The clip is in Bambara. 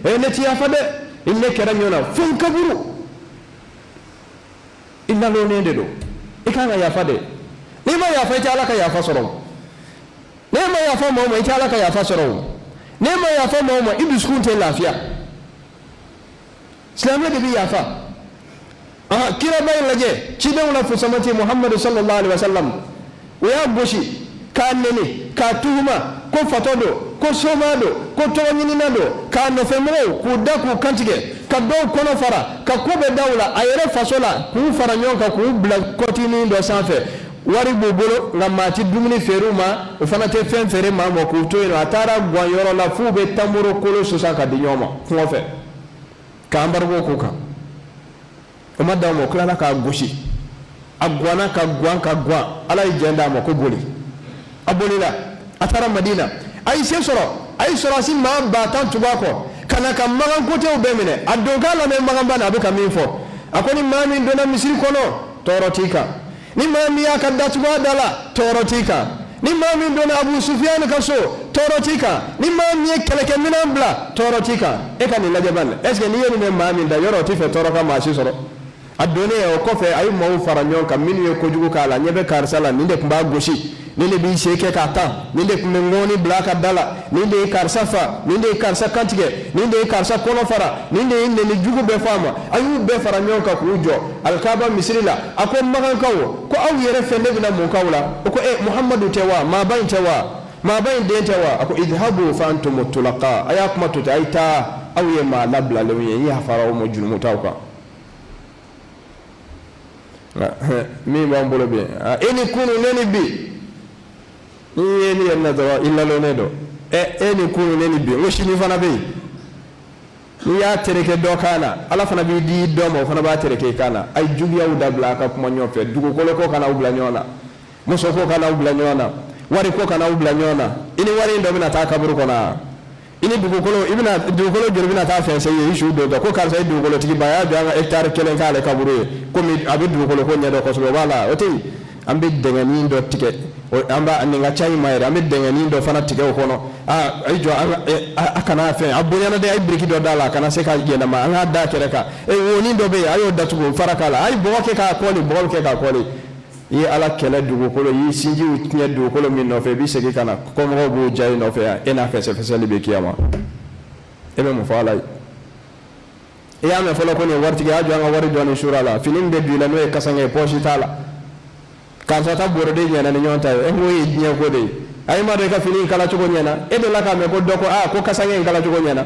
e ne ti yafa dɛ i ne kɛra ɲɔgɔn na fo n kaburu i nalonnen de don i kan ka yafa dɛ n'i ma yafa i tɛ ala ka yafa sɔrɔ n'e ma yafa mɔgɔ ma i tɛ ala ka yafa sɔrɔ n'e ma yafa mɔgɔ ma i dusukun tɛ lafiya silamɛ de bɛ yafa kiraba in lajɛ cidenw la fusamati muhamadu sallallahu alaihi wa sallam o y'a gosi k'a neni k'a tuhuma ko fatɔ don ko soma don ko tɔgɔ ɲinina don k'a nɔfɛmɔgɔw k'u da k'u kantigɛ ka dɔw kɔnɔ fara ka ko bɛɛ da u la a yɛrɛ faso la k'u fara ɲɔgɔn kan k'u bila kɔtinin dɔ sanfɛ wari b'u bolo nka maa ti dumuni feere u ma o fana tɛ fɛn feere maa ma k'u to yen nɔ a taara gan yɔrɔ la f'u bɛ tamoro kolo susan ka di ɲɔgɔn ma kɔngɔ fɛ ka embargo k'o kan o ma dan o ma o tilala k'a gosi a gwanna ka gwan ka gwan ala ye jɛn d'a ma ko boli a bolila a taara madina a ye se sɔrɔ a ye sɔrɔdasi maa ba tan tugu a kɔ ka na ka magan kotew bɛɛ minɛ a don k'a lamɛn maganba na a bɛ ka min fɔ a ko ni maa min donna misiri kɔnɔ tɔɔrɔ t'i kan ni maa min y'a ka da tugu a da la tɔɔrɔ t'i kan ni maa min donna abu sufiyani ka so tɔɔrɔ t'i kan ni maa min ye kɛlɛkɛminɛn bila tɔɔrɔ t'i kan e ka nin lajɛ bani est ce que n'i ye nin mɛn maa min da yɔrɔ o t'i fɛ tɔɔrɔ ka maa si sɔrɔ a donnen o kɔfɛ a ye maaw fara ɲɔgɔn kan minnu ye kojugu k'a la ɲɛ bɛ karisa la nin de tun b'a gosi nin de b'i sen kɛ k'a tan nin de tun bɛ ŋɔni bila a ka da la nin de ye karisa fa nin de ye karisa kantigɛ nin de ye karisa kɔnɔ fara nin de ye nɛni jugu bɛɛ fɔ a ma a y'u bɛɛ fara ɲɔgɔn kan k'u jɔ alikaba misiri la a ko magankaw ko aw yɛrɛ fɛ ne bɛna mun k'aw la o ko e muhamadu tɛ wa maaba in tɛ wa maaba in den tɛ wa a ko idhabu fa antum tulaqa a y'a kuma to ten a ye taa aw ye maa labilalenw ye n yafara aw ma junumutaw kan Ah, eh, min b'an bolo bi ah, e ni kunu ne ni bi n'i ye ne yɛrɛ na dɔrɔn i nalonnen don ɛ e ni kunu ne ni bi n ko sini fana bɛ yen n'i y'a tereke dɔ kan na ala fana b'i di dɔ ma o fana b'a tereke i kan na a ye juguyaw dabila a ka kuma ɲɔgɔn fɛ dugukolo ko kana aw bila ɲɔgɔn na muso ko kana aw bila ɲɔgɔn na wari ko kana aw bila ɲɔgɔn na i ni wari in dɔ bɛna taa kaburu kɔnɔ wa i ni dugukolo i bɛna dugukolo joli bɛna taa fɛn sen ye i su don dɔ ko karisa ye dugukolotigiba y'a jɔ an ka hectare kelen k'ale kaburu ye komi a bɛ dugukolo ko ɲɛdɔn kosɛbɛ o b'a la o tɛ yen an bɛ dɛngɛnin dɔ tigɛ an b'a nin ka ca i ma yɛrɛ an bɛ dɛngɛnin dɔ fana tigɛ o kɔnɔ a i jɔ a kana fɛn a bonyana dɛ a ye biriki dɔ d'a la a kana se ka yɛlɛma an k'a da kɛrɛ kan e wonin dɔ bɛ yen a y'o datugu fara k'a la a ye bɔgɔ kɛ k'a kɔli bɔgɔ bɛ kɛ k'a kɔli i ye ala kɛlɛ dugukolo y'i sinjiw tiɲɛ dugukolo min nɔfɛ i bɛ segin ka na kɔmɔgɔw b'o diya i nɔfɛ yan e n'a fɛsɛfɛsɛli bɛ kiyama e bɛ mun fɔ ala ye i y'a mɛn fɔlɔ ko nin waritigiya jɔ an ka wari dɔɔni sura la fini min bɛ don i la n'o ye kasange ye pɔsi t'a la karisa ta bɔrɔde ɲɛna ni ɲɔgɔn ta ye e k'o ye diɲɛ ko de ye a ye madu ka fini in kala cogo ɲɛna e delila k'a mɛn ko dɔ ko aa ko kasange in kala cogo ɲɛna